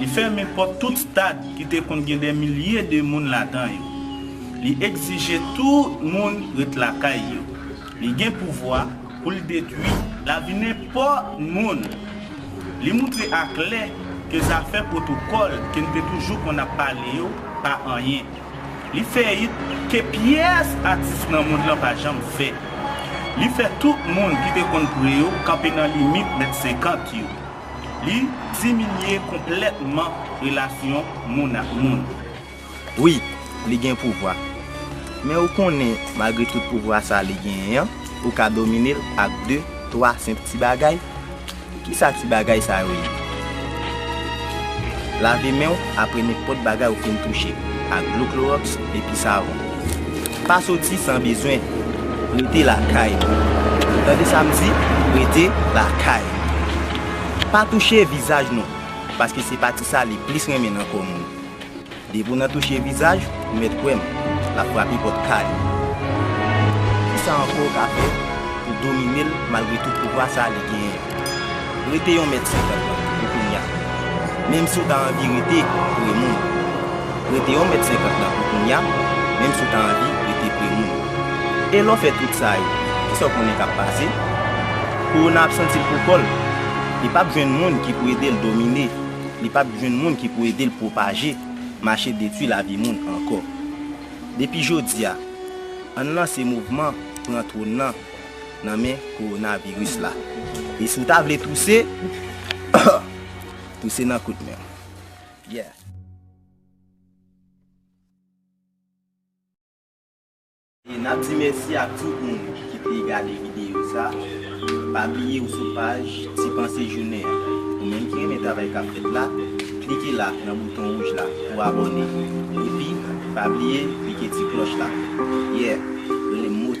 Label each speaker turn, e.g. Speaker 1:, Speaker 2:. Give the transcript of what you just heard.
Speaker 1: Li fèmen pòt tout stad ki te konn gen dè milye de moun ladan yo. Li egzije tout moun ret lakay yo. Li gen pouvwa pou l detwi lavi nenpòt moun. Li moutre aklè ke zafè pwotokòl ke n te toujou konn ap pale yo pa anyen. Li fè it ke pyès atis nan mond lan pa janm fè. Li fè tout moun ki te konn pre yo kanpe nan limit mèt senkant yo. Li diminye konplètman relasyon moun ak moun. Wi,
Speaker 2: li gen pouvwa. Men ou konnen malgre tout pouvwa sa li genyen an, ou ka domine l ak de, twa senp ti bagay. Kisa ti bagay sa yo ye? Lave men w apre nenpòt bagay ou fin touche ak dlo kloròks epi savon. Pa soti san bezwen, rete lakay ou. Ou tande sa m di, rete lakay ou. Pa touche vizaj nou, paske se pati sa li plis renmen nan kò moun. Depi w nan touche vizaj, ou mèt kwè m, l ap frape pòt kay ou. Kisa ankò ou ka fè pou domine l malgre tout pouvwa sa li genyen an? Rete yon mèt 50 lan pou kounya. Menm si w ta anvi rete pre moun. Rete yon mèt 50 lan pou kounya, menm si w ta anvi rete pre moun. E lè w fè tout sa yo, ki sa w konnen k ap pase? Kowona ap santi l pou kò l. Li p ap jwenn moun ki pou ede l domine. Li p ap jwenn moun ki pou ede l pwopaje, mache detwi lavi moun ankò. Depi jodi a, ann lanse mouvman Pran Twòn nan! nan men kowonaviris la. E si w ta vle touse, touse nan kout men w. Yeah! E nap di mèsi ak tout moun ki te gade videyo sa. Pa bliye ou sou paj Ti Panse Jounen an. Ou menm ki renmen travay kap fèt la, klike la nan bouton wouj la pou abòne. Epi, pa bliye klike ti klòch la. Yeah! Rele m Moti.